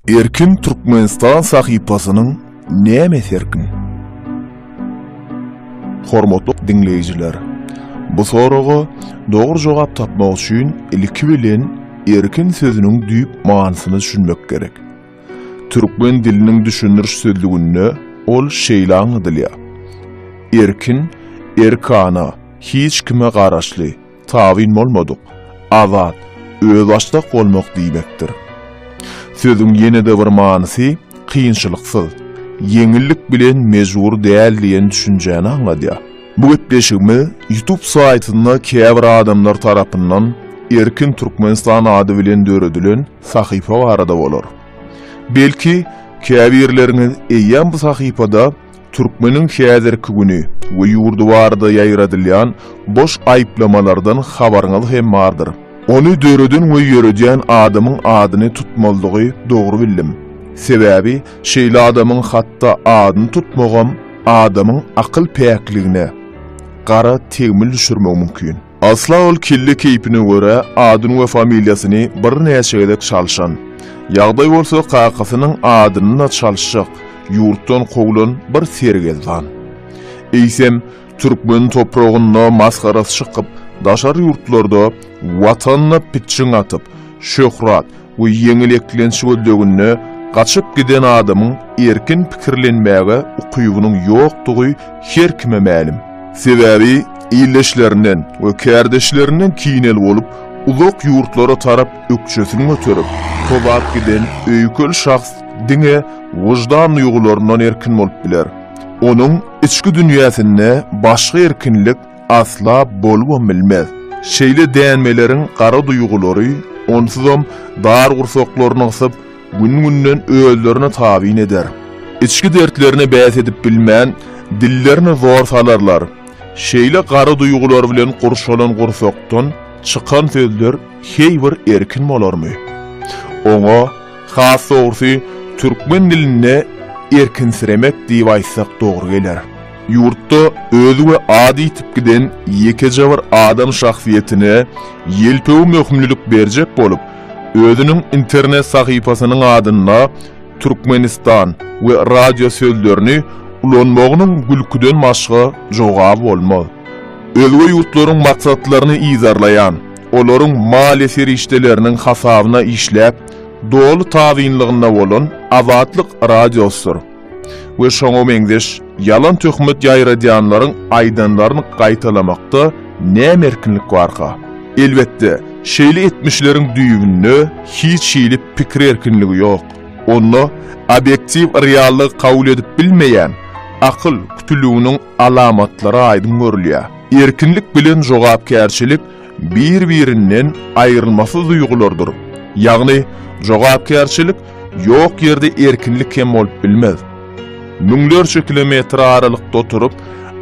Erkin Türkmenistan sahypasynyň nämesi erkin? Hormatly diňleýjiler, bu soraga dogry jogap tapmak üçin ilki bilen erkin sözüniň düýp manysyna düşünmek gerek. Türkmen diliniň düşündiriş sözlüginde ol şeýle aňladylýar, Erkin, erkana, hiç kime garaşly, Tabyn bolmadyk, azat, özbaşdak bolmak diýmekdir. Sözüň ýene-de bir manysy kynçylyksyz, ýeňillik bilen mejbur däl diýen düşünjäni aňladýar. Bu gepleşigimiz YouTube saýtynda käbir adamlar tarapyndan Erkin Türkmenistan ady bilen döredilen sahypa barada bolar. Belki, käbirleriňiz eýýäm bu sahypada Türkmeniň häzirki güni we ýurdy barada ýaýradylýan boş aýyplamalardan habaryňyz hem bardyr. Ony döreden we ýöredýän adamyň adyny tutmalydygy dogry bildim. Sebäbi şeýle adamyň hatda adyny tutmagam adamyň akyl päkligine gara tegmil düşürmegi mümkin. Asla ol kelle keýpine görä adyny we familiýasyny birnäçe gezek çalşan. Ýagdaý bolsa kakasynyň adyny-da çalşjak, ýurtdan kowlan bir sergezdan. Eýsem, türkmen topragynda masgarasy çykyp, daşary ýurtlarda Watanyna pitjiň atyp, şöhrat, Bu ýeňil eklenç gözleginde gaçyp giden adamyň erkin pikirlenmäge ukybynyň ýokdugy her kime mälim. Sebäbi illeşlerinden we kärdeşlerinden kinel bolup, uzak ýurtlara tarap ökjesini göterip, tozap giden öýkel şahs diňe wyždan duýgularyndan erkin bolup biler. Onuň içki dünýäsinde başga erkinlik Asla bolubam bilmez. Şeýle dänmeleriň gara duýgulary onsuzam dar gursaklaryny gysyp, gün-günden özlerini tabyn eder. Içki dertlerine bäs edip bilmän, dillerini zor salarlar. Şeýle gara duýgular bilen gurşalan gursakdan çykan sözler heý bir erkin bolarmy? Oňa, has dogrusy, türkmen dilinde erkinsiremek diýip aýtsak dogry geler. Ýurtda özi we ady ýitip giden ýekeje bir adam şahsyýetine ýelpewi möhümlilik berjek bolup, özüniň internet sahypasynyň adynda Türkmenistan we radio sözlerini ulanmagynyň gülküden başga jogaby bolmaz. Özge ýurtlaryň maksatlaryny yzarlaýan, olaryň maliýe serişdeleriniň hasabyna işläp, doly tabynlygynda bolan Azatlyk Radiosdyr. we şoňa meňzeş ýalan töhmet ýaýradýanlaryň aýdanlaryny gaýtalamakda näme erkinlik barka? Elbetde, şeýle etmişleriň düýbünde hiç hili pikir erkinligi ýok. Onda obýektiw reallygy kabul edip bilmeýän akyl kütüliginiň alamatlary aýdyň görülýär. Erkinlik bilen jogapkärçilik bir-birinden aýrylmasyz duýgulardyr. Ýagny, jogapkärçilik ýok ýerde erkinlik hem bolup bilmez. Müňlerçe kilometr aralykda oturyp,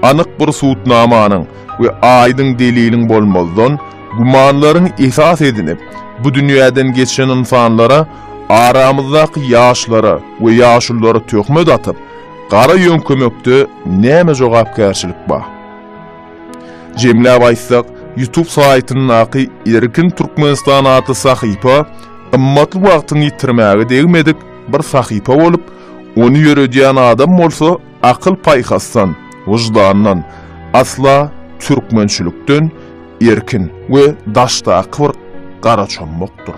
anyk bir subutnamanyň we aýdyň deliliň bolmazdan, gümanlaryňy esas edinip, bu dünýäden geçen ynsanlara, aramyzdaky ýaşlara we ýaşululara töhmet atyp, gara ýöňkemekde näme jogapkärçilik bar? Jemläp aýtsak, YouTube saýtyndaky Erkin Türkmenistan atly sahypa gymmatly wagtyňy ýitirmäge degmedik bir sahypa bolup, ony ýöredýän adam bolsa akyl-paýhasdan, wyždandan, asla türkmençilikden erkin we daşdaky bir garaçommakdyr.